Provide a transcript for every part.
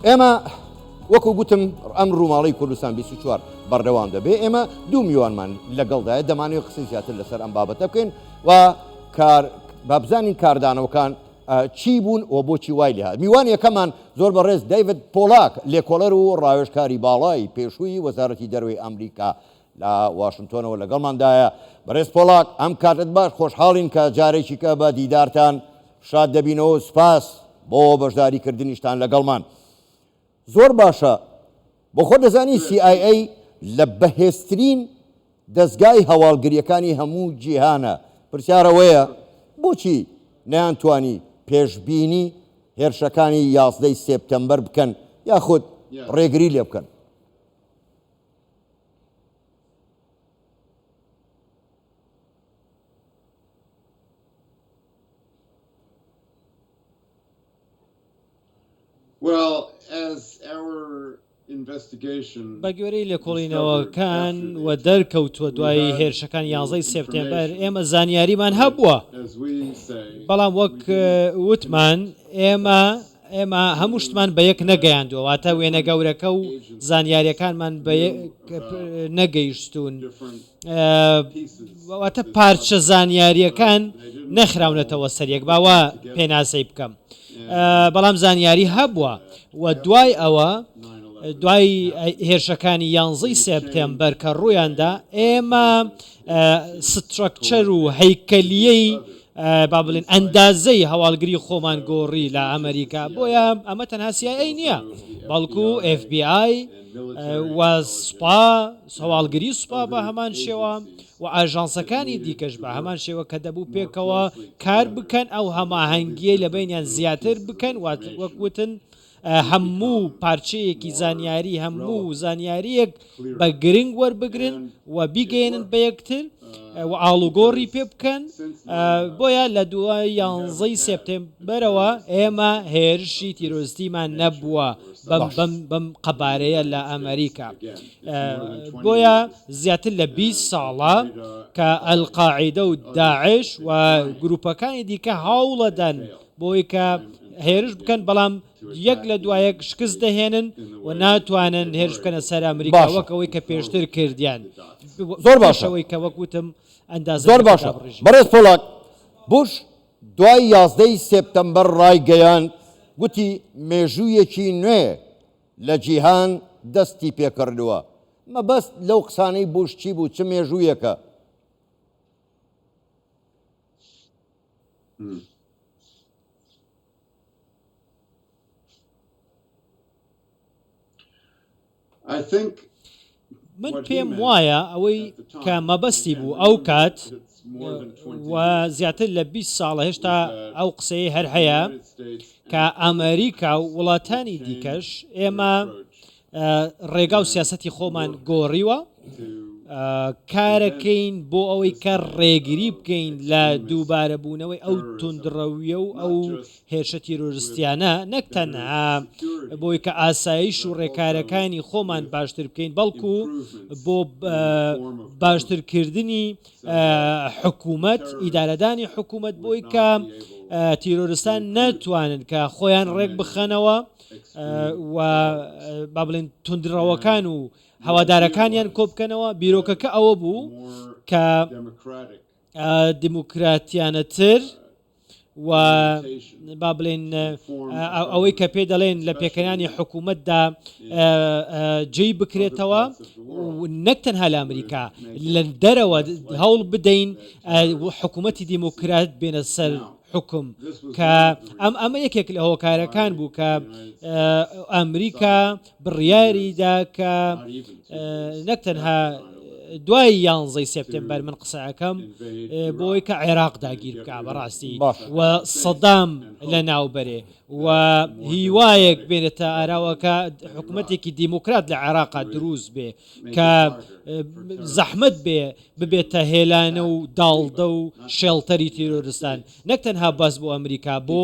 ئێمە وەکو گوتم ئەم ڕووماڵی کوردستان 24 بەردەوام دەبێ ئێمە دوو میوانمان لەگەڵدایە دەمانەوە قسەی زیاتر لەسەر ئەم بابەتە بکەین و بابزانین کاردانەوەکان چی بوون و بۆچی وای لێ میوان یەکەمان زۆر بەڕێز دایڤد پۆلاک لێکۆڵەر و ڕاوێژکاری باڵای پێشووی وەزارەتی دەروی ئەمریکا لە واشنتۆنەوە لەگەڵماندایە. بەڕێز پۆڵاک، ئەم کاتەت باش، خۆشحاڵین کە جارێکیکە بە دیدارتان شاد دەبینەوەو سوپاس بۆ بەشداری کردنیشتان لەگەڵمان. زۆر باشە، بۆ خۆت دەزانی سی ئای ئەی لە بەهێزترین دەزگای هەواڵگریەکانی هەموو جیهانە، پرسیار ئەوەیە بۆچی نەیانتوانی پێشبینی هێرشەکانی یازدەی سێپتەمبەر بکەن یاخود ڕێگری لێبکەن؟ بەگوێرەی لێکۆڵینەوەکان و دەرکەوتووە دوای هێرشەکان یازدەی سێپتێمبەر ئێمە زانیاریمان هەبووە بەڵام وەک وتمان ئێمە ئێمە هەموو شتمان بە یەک نەگەیاندووە، واتە وێنە گەورەکە و زانیارییەکانمان بە یەک نەگەیشتوون، واتە پارچە زانیارییەکان نەخراونەتەوە سەر یەک، با وا پێناسەی بکەم، بەڵام زانیاری هەبووە و دوای ئەوە، دوای هێرشەکانی یانزەی سێپتێمبەر کە ڕوویاندا، ئێمە سترەکچەر و هەیکەلیی، با بڵێین ئەندازەی هەواڵگری خۆمان گۆڕی لە ئەمەریکا، بۆیە ئەمە تەنها سی ئای ئەی نییە، بەڵکو ئێف بی ئای و سوپا، هەواڵگری سوپا بە هەمان شێوە و ئاژانسەکانی دیکەش بە هەمان شێوە کە دەبوو پێکەوە کار بکەن، ئەو هەماهەنگییەی لە بەینیان زیاتر بکەن، وەک وتن، هەموو پارچەیەکی زانیاری هەموو زانیاریەک بە گرنگ وەربگرن و بیگەێنن بە یەکتر و ئاڵوگۆڕی پێ بکەن بۆیە لە دوای یانزەی سپتمبەرەوە ئێمە هێرشی تیرۆستیمان نەبووە بەم قەبارەیە لە ئەمریکا بۆیە زیاتر لە 20 ساڵە کە ئەلقاعدە و داعش و گروپەکانی دیکە هاوڵەدەن بۆی کە هێرش بکەن بەڵام یەک لە دوایەک شکست دەهێنن و ناتوانن هێرش بکەنە سەر ئەمریکا باشە. وەکەوەی کە پێشتر کردیان زۆر باشە. بەشەوەی کە وەکوتم ئەندازە زۆر باشە بەڕێز پۆڵاک. بوش دوای یازدە ی سێپتەمبەر ڕایگەیاند گوتی مێژوویەکی نوێ لە جیهان دەستیپێکردووە. مەبەست لەو قسانەی بوش چی بوو؟ چ مێژوویەکە؟ من پێم وایە ئەوەی کە مەبەستی بوو ئەو کات و زیاتر لە 20 ساڵە هێشتا ئەو قسەی هەر هەیە کە ئەمریکا و وڵاتانی دیکەش ئێمە ڕێگا و سیاسەتی خۆمان گۆڕیوە کارەکەین بۆ ئەوەی کە ڕێگری بکەین لە دووبارەبوونەوەی ئەو تونندڕەویە و ئەو هێرشە تیرۆرستیانە نەک تەنها بۆی کە ئاسایش و ڕێکارەکانی خۆمان باشتر بکەین بەڵکو بۆ باشترکردنی حکوومەت ئیدارەدانی حکوومەت بۆی کە تیرۆرستان ناتوانن کە خۆیان ڕێک بخەنەوە و با بڵێن تونندڕەوەکان و هەوادارەکانیان کۆبکەنەوە بیرۆکەکە ئەوە بوو کە دیموکراتیانەتر و با بڵێن ئەوەی کە پێ دەڵێن لە پێکەانی حکوومەتدا جێی بکرێتەوە نەک تەنها لە ئەمریکا لە دەرەوە هەوڵ بدەین حکوومەتتی دیموکرات بێنە سەر حوکم کە ئەم ئەمە یەکێک لە هۆکارەکان بوو کە ئەمریکا بڕیاری دا کە نەک تەنها دوای یانزەی سپتمبەر من قسەکەم بۆی کە عێراق داگیر بکە بەڕاستی و سەدام لە ناوبەرێ و هیوایەک بێنێتە ئاراوەکە حکوومەتێکی دیموکرات لە عێراقا دروست بێ کە زەحمت بێ ببێتە هێلانە و داڵدە و شێڵتەری تیرۆرستان نەک تەنها باس بۆ ئەمریکا بۆ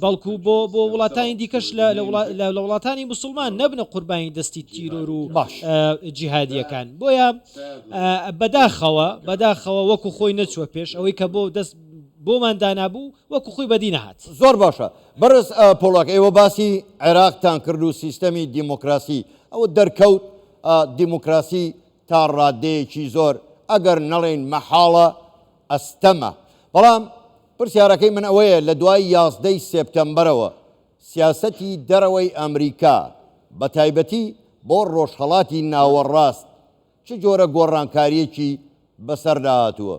بەڵکو بۆ بۆ وڵاتانی دیکەش لە لە وڵاتانی مسلمان نەبنە قوربانی دەستی تیرۆر و باش جیهادیەکان بۆیە بەداخەوە بەداخەوە وەکو خۆی نەچوە پێش ئەوەی کە بۆ دەست بۆمان دانابوو وەکو خۆی بەدی نەهات زۆر باشە بەرز پۆڵاک ئێوە باسی عێراقتان کرد و سیستەمی دیموکراسی ئەوە دەرکەوت دیموکراسی تا ڕاددەیەکی زۆر ئەگەر نەڵێین مەحاڵە ئەستەمە. بەڵام پرسیارەکەی من ئەوەیە لە دوای یازدە ی سێپتەمبەرەوە سیاسەتی دەرەوەی ئەمریکا بە تایبەتی بۆ ڕۆژهەڵاتی ناوەڕاست چ جۆرە گۆڕانکارییەکی بەسەردا هاتووە؟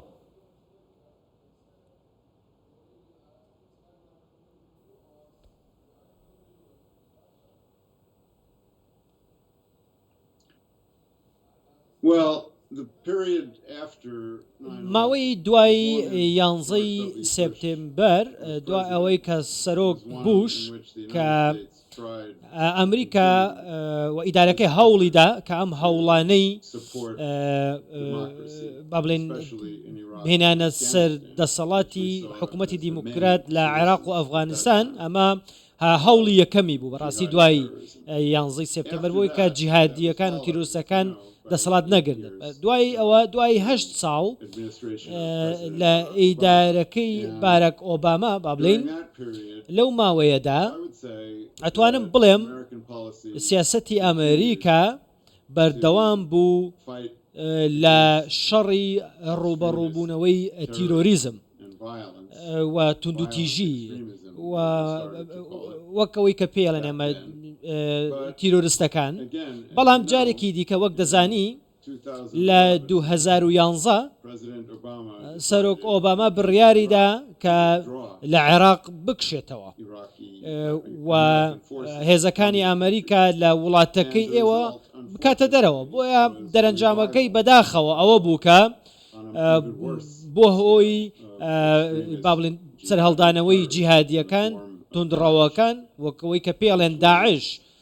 ماوەی دوای یانزە ی سێپتێمبەر دوای ئەوەی کە سەرۆک بوش کە ئەمریکا و ئیدارەکەی هەوڵیدا کە ئەم هەوڵانەی با بڵێن بهێنانە سەر دەسەڵاتی حکوومەتی دیموکرات لە عێراق و ئەفغانستان ئەمە هەوڵی یەکەمی بوو بەڕاستی دوای یانزەی سپتمبر بۆی کە جیهادیەکان و تیرۆستەکان دەسەڵات نەگرن دوای ئەوە دوای هەشت ساڵ لە ئیدارەکەی بارەک ئۆباما با بڵین لەو ماوەیەدا ئەتوانم بڵێم سیاستی ئەمریکا بەردەوام بوو لە شەڕی ڕووبەڕووبوونەوەی تیرۆریزم و توندوتیژی وەکەوەی کە پێڵێن ئەمە تیرۆرستەکان بەڵام جارێکی دیکە وەک دەزانی لە 2011 سەرۆک ئۆباما بڕیاریدا کە لە عێراق بکشێتەوە و هێزەکانی ئەمریکا لە وڵاتەکەی ئێوە بکاتە دەرەوە بۆیە دەرەنجامەکەی بەداخەوە ئەوە بوو کە بۆ هۆی بابلین سەرهەڵدانەوەی جیهادیەکان تندڕەوەکان وەکەوەی کە پێڵێن داعش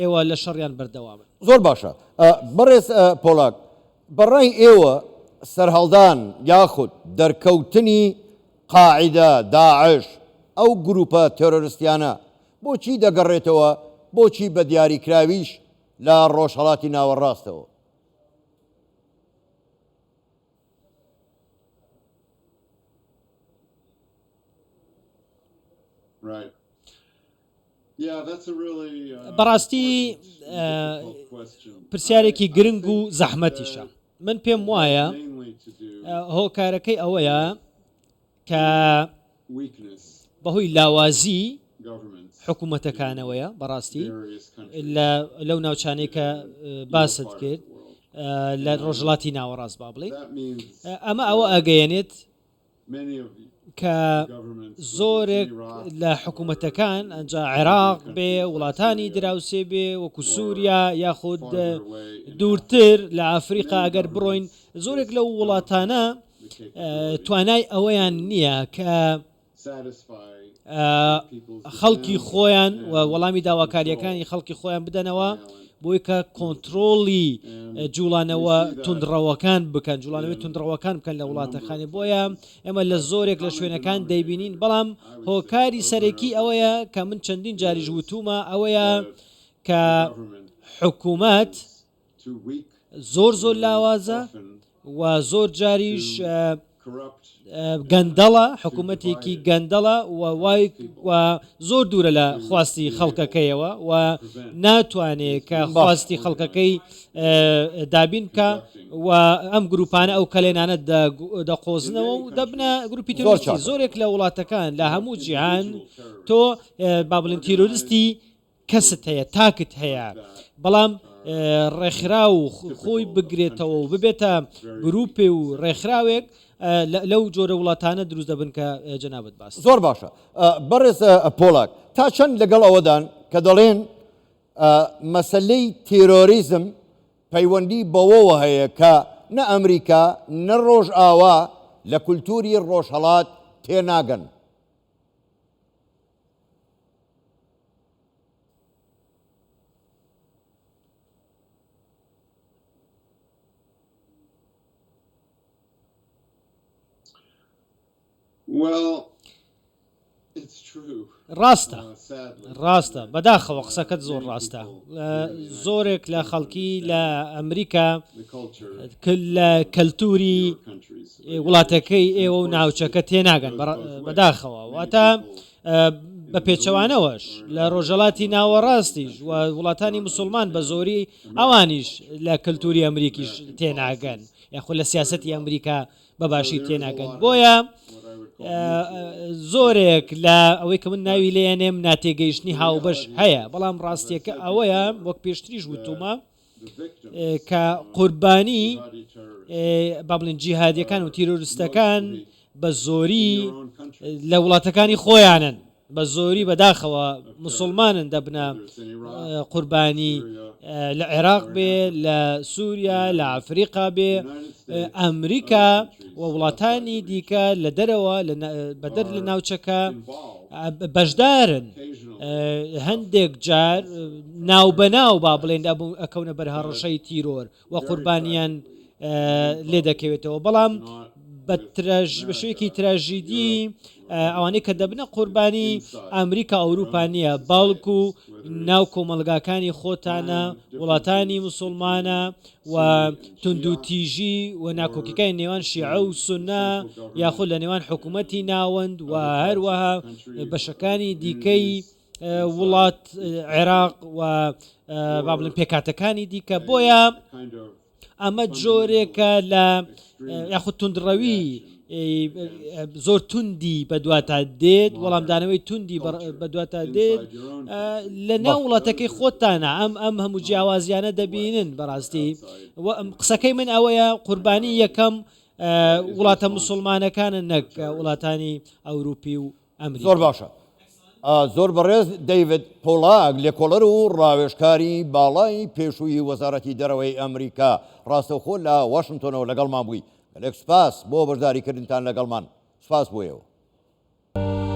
ئێوە لە شەڕیان بەردەوامن. زۆر باشە بەڕێز پۆڵاک، بە ڕای ئێوە سەرهەڵدان یاخود دەرکەوتنی قاعیدە، داعش، ئەو گرووپە تێرۆرستیانە بۆچی دەگەڕێتەوە، بۆچی بە دیاریکراویش لە ڕۆژهەڵاتی ناوەڕاستەوە؟ بەڕاستی پرسیارێکی گرنگ و زەحمەتیشە من پێم وایە هۆکارەکەی ئەوەیە کە بەهۆی لاوازی حکوومەتەکانەوەیە بەڕاستی لەو ناوچانەی کە باست کرد لە ڕۆژڵاتی ناوەڕاست با بڵێ ئەمە ئەوە ئەگەیەنێت کە زۆرێک لە حکومەتەکان ئەجا عێراق بێ وڵاتانی دراوسێ بێ وەکو سووریا یاخود دوورتر لە ئافریقا ئەگەر بڕۆین زۆرێک لە وڵاتانە توانای ئەوەیان نییە کە خەڵکی خۆیان و وەڵامی داواکاریەکانی خەڵکی خۆیان بدەنەوە بۆی کە کۆنتترۆڵی جوڵانەوە تونندڕەوەکان بکەن جوڵانەوەی تونندڕەوەکان بکەن لە وڵاتەکانی بۆیە ئێمە لە زۆرێک لە شوێنەکان دەیبینین بەڵام هۆکاری سەرەکی ئەوەیە کە من چەندین جاریش وتومە ئەوەیە کە حکوومەت زۆر زۆر لاوازە و زۆر جاریش گەندەڵە حکوومەتێکی گەندەڵە و وای زۆر دوورە لە خواستی خەڵکەکەیەوە و ناتوانێ کە خواستی خەڵکەکەی دابین کە و ئەم گروپانە ئەو کەلێنانە دەقۆزنەوە و دەبنە گروپی تۆرچی زۆرێک لە وڵاتەکان لە هەموو جیهان تۆ بابلین تیرۆریستی کەست هەیە تاکت هەیە بەڵام ڕێکخرا و خۆی بگرێتەوە و ببێتە گروپێ و ڕێکخراوێک لەو جۆرە وڵاتانە دروست دەبن کە جەنابەت باس زۆر باشە بەڕێز پۆڵاک تا چەند لەگەڵ ئەوەدان کە دەڵێن مەسلەی تیرۆریزم پەیوەندی بەوەوە هەیە کە نە ئەمریکا نە ڕۆژ ئاوا لە کولتوری ڕۆژهڵات تێناگەن ڕاستە ڕاستە بەداخەوە قسەکەت زۆر ڕاستە زۆرێک لە خەڵکی لە ئەمریکا لە کەلتوری وڵاتەکەی ئێوە و ناوچەکە تێناگەن بەداخەوە واتە بە پێچەوانەوەش لە ڕۆژەڵاتی ناوەڕاستیش و وڵاتانی مسلمان بە زۆری ئەوانیش لە کەلتوری ئەمریکیش تێناگەن یاخۆ لە سیاستی ئەمریکا بە باشی تێناگەن بۆیە زۆرێک لە ئەوەی کە من ناوی لێنێم ناتێگەیشتنی هاوبەش هەیە بەڵام ڕاستیەکە ئەوەیە وەک پێشتریش وتومە کە قوربانی با بڵێن جیهادیەکان و تیرۆرستەکان بە زۆری لە وڵاتەکانی خۆیانن بە زۆری بەداخەوە مسلمانن دەبنە قوربانی لە عێراق بێ لە سووریا لە ئەفریقا بێ ئەمریکا و وڵاتانی دیکە لە دەرەوە بەدەر لە ناوچەکە بەشدارن هەندێک جار ناوبەناو با بڵێن ئەبوو ئەکەونە بەر هەڕەشەی تیرۆر و قوربانیان لێ دەکەوێتەوە بەڵام بە بەشێکی تراژیدی ئەوانەی کە دەبنە قوربانی ئەمریکا ئەوروپا نییە باڵکو ناو کۆمەلگاکانی خۆتانە وڵاتانی مسلمانە و توندوتیژی و ناکۆکیەکانی نێوان شیعە و سونە یاخود لە نێوان حکوومەتی ناوەند و هەروەها بەشەکانی دیکەی وڵات عێراق و بابلن پێکاتەکانی دیکە بۆیە ئەمە جۆرێکە لە یاخود توندڕەوی زۆر توندی بەدواتا دێت وەڵامدانەوەی توندی بەدواتا دێت لە ناو وڵاتەکەی خۆتانە ئەم ئەم هەموو جیاوازیانە دەبینن بەڕاستی قسەکەی من ئەوەیە قوربانی یەکەم وڵاتە مسلمانەکانە نەک وڵاتانی ئەوروپی و زۆر باشە زۆر بەڕێز دەیڤد پۆڵاک لێکۆڵەر و ڕاوێژکاری باڵای پێشووی وەزارەتی دەرەوەی ئەمریکا ڕاستەوخۆ لە واشنتۆنەوە لەگەڵمان بووی گەلێک سوپاس بۆ بەشداریکردنتان لەگەڵمان سوپاس بۆ ئێوە.